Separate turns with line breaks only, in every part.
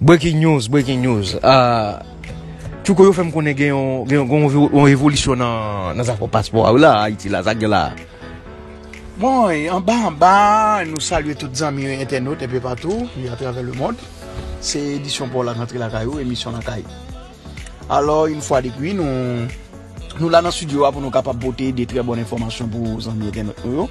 Breaking news breaking news Tchouko yo fèm konnen gen yon evolisyon nan zafè paspò a wi la Ayiti la sa gen la a.
Bon anba anba nou salye tout zanmi yo entènot enpe patou atravè lemond se edisyon paw la k antre lakay ou emisyon lakay. Alò yn fwa de pwi nou Nou la nan studio a pou nou kapab pote de trè bon enfòmasyon pou zanmi entènot nou yo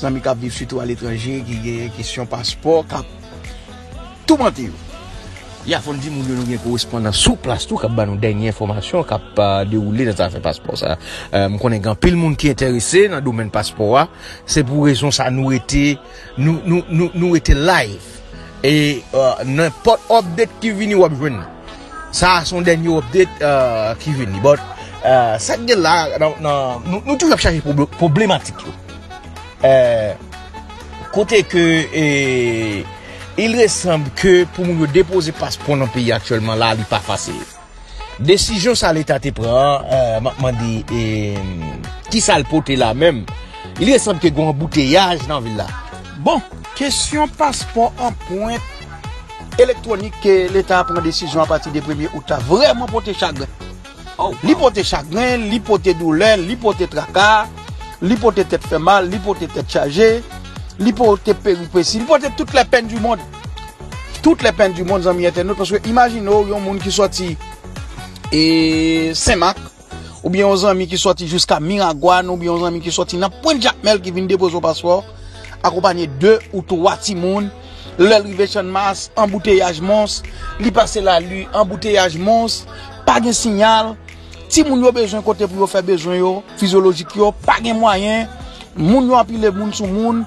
Zanmi kap viv sitou a letranje ki gen kesyon paspò kap Toumante yo Ya fòn
di moun yo nou gen korespondan sou plas tou kap banou dènye enfòmasyon kap dewoule nan zafè paspò sa M konnen gen anpil moun ki entèrese nan domèn paspò a se pou rezon sa nou rete Nou rete live. E nenpòt update ki vini wap jwenn li. Sa a son dènye update ki vini. But sak gen la nou toujou ap chache problematik yo. Kote ke il resanb ke pou moun yo depoze paspò nan peyi aktyèlman la li pa fasil. Desizyon sa leta te pran an, euh, map mande e ki sa l pote la menm? Il est semble ke gen anbouteyaj nan vil la. Bon,
kesyon paspò anpwent elektwonik ke leta a pran desizyon a pati de premye out la vrèman pote chagren. Li pote chagren, li pote doulè, li pote traka, li pote tèt fè mal, li pote tèt chaje, li pote peripesi, li pote tout lè pèn di mond. Tout le pen du monde zanmi entènot paske imajine w yon moun ki soti e senmak ou byen yon zanmi ki soti jiska miragwan ou byen yon zanmi ki soti nan pwen jakmel ki vin depoze w paspò akonpanye 2 ou 3 ti moun lè l rive chan mas anbouteyaj mons li pase la li anbouteyaj mons pa gen sinyal ti moun yo bezwen kote pou yo fè bezwen yo fizyolojik yo pa gen mwayen moun yo anpile moun sou moun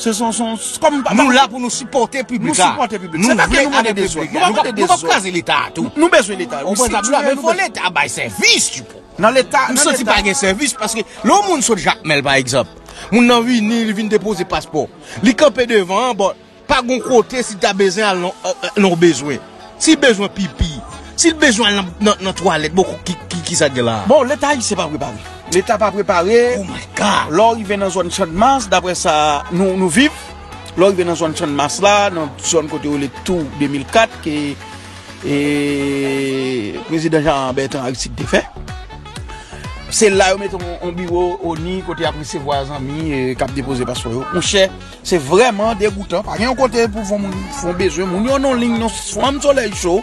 Se son son Kom nou pa Nou la pou nou sipote
piblik la Nou sipote piblik la Se pa
ke nou mande de zot Nou pa mande de zot Nou pa kraze
leta a tou Nou bezwen leta wi si
tu Men fo
leta bay sevis tu po Nan leta Nan leta M santi
pa gen sevis
paske Lè yon moun sot jakmel pa egzanp Moun nan vini li vin depoze paspo Li kanpe devan an bon Pa gon kote si ta bezwen al non Nan w bezwen Sil bezwen pipi, sil bezwen al nan twalèt bon kisa gen la. Bon leta ayisyen pa prepare.
Leta pa prepare. Oh my God. Lè
w rive nan zòn
channmas daprè sa nou viv, lè w rive nan zòn channmas la, nan zòn kote yo rele tou 2004 ke prezidan Jean Bertrand Aristide te fè. Se la yo mete yon biwo oni kote y ap resevwa zanmi k ap depoze paspò yo. Monchè. Se vreman degoutan pa gen yon kote pou fon moun fon bezwen moun yo non lign non fanm soley cho.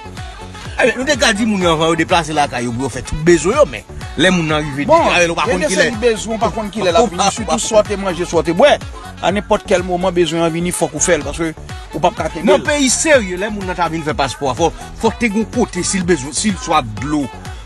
Ebyen nou te ka
di moun yo avan yo deplase lakay yo pou yo fè tout bezwen yo men lè moun nan rive di kay ou pa konn
kilè ou pa konn kilè lap vini sitou sa w te manje sa w te bwè a nenpòt kèl moman bezwen an vini fòk ou fèl paske ou pap ka kenbe l. Nan peyi serye lè
moun nan ta vin fè paspò a fòk te gen yon kote si l bezwen si l swaf dlo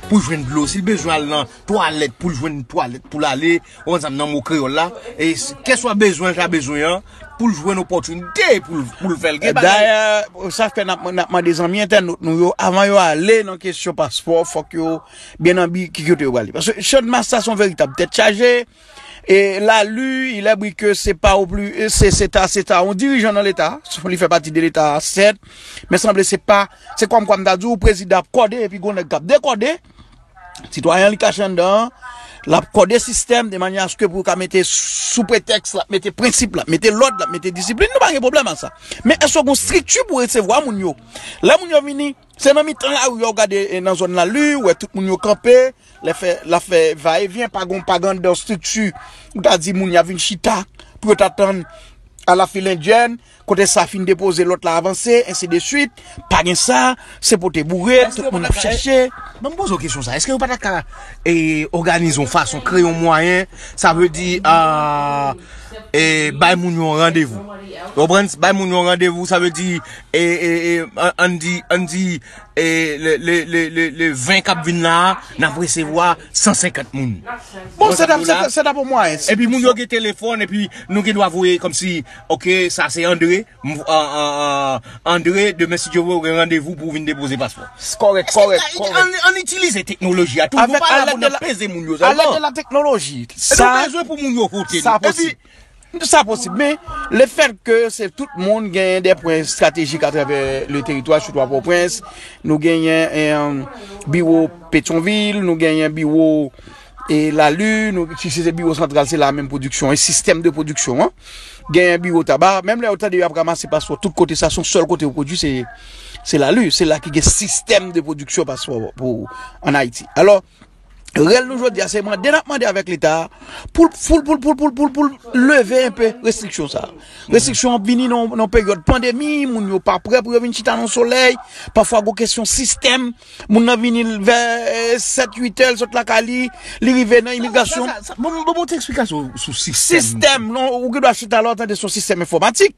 pou l jwenn dlo si l bezwen al nan twalèt pou l jwenn twalèt pou l ale. Ou konn sa m nan mo kreyòl la. E keswa bezwen l ta bezwen an, pou l jwenn opòtinite pou l fè l. Gen bagay. Dayè, sa
fè n ap mande zanmi entènot nou yo, avan yo ale nan kesyon paspò, fòk yo byen anbi ki kote yo prale. Paske Channmas sa se yon veritab tèt chaje. E la lu, il è bri ke se pa ou pli, se se ta, se ta yon dirijan nan leta. Sou li fè pati de leta a, sèt. Men sanble se pa, se kòm kwa m ta di ou, prezidan ap kòde epi gon nèg k ap dekòde. Sitwayen li kache anndan an, l ap kòde sistèm de manyè aske pou yo ka mete sou pretèks l ap mete prensip, l ap mete lòd, l ap mete disiplin, nou pa gen pwoblèm ak sa. Men èske gen yon estrikti pou resevwa moun yo? Lè moun yo vini, se nan mitan lari a ou gade nan zòn Lali, ou wè tout moun yo kanpe, l ap fè va e vyen, pa gen anndan estrikti pou ta di moun y ap vin chita pou yo ta tann alafilendyèn, Kote sa fin depoze lot la avanse ensi de swit pa gen sa se pote boure tout moun ap chache. Banm poze w kesyon
sa eske yo pata ka e oganize yon fason kreye yon mwayen sa vle di e bay moun yon randevou ou konprann bay moun yon randevou sa vle di e e an di an di e le le le le 20 kap vin la nap resevwa 150 moun bon
sa ta pou mwayen epi moun yo gen
telefon epi nou gen dwa voye komsi Ok sa se Andre Andre demen si Dye vle ou gen randevou pou vin depoze paspò An itilize teknoloji a toujou pa la pou nan peze
moun
yo sèlman Alèk de la teknoloji
Nou bezwen pou moun
yo vote Sa posib
Sa posib men le fèt ke se tout moun gen de pwen estratejik a travè le teritwa sou to a Pòprens Nou genyen biwo Petyonvil Nou genyen biwo E la lune, si se biwo santral se la menm pwodiksyon, e sistèm de pwodiksyon an. Genyen biwo taba, menm lè ou tande yo ap ramase paspò tout kote sa son sèl kote ou pwodui se la lune, se la ki gen sistèm de pwodiksyon paspò pou an Ayiti. Alò, rèl nou jodi a se mande nap mande avèk leta pou l leve yon pe restriksyon sa. Restriksyon ap vini nan peryòd pandemi, moun yo pa prè pou yo vin chita nan solèy, pafwa gwo kesyon sistèm. Moun nan vini vè 7, 8 è, l sot lakay li, li rive nan imigrasyon. Bon, bon, bon, bon, te eksplikasyon sou sistèm. Sistèm, non, ou gen dwa
chita
la, ou tande sou sistèm
enfomatik.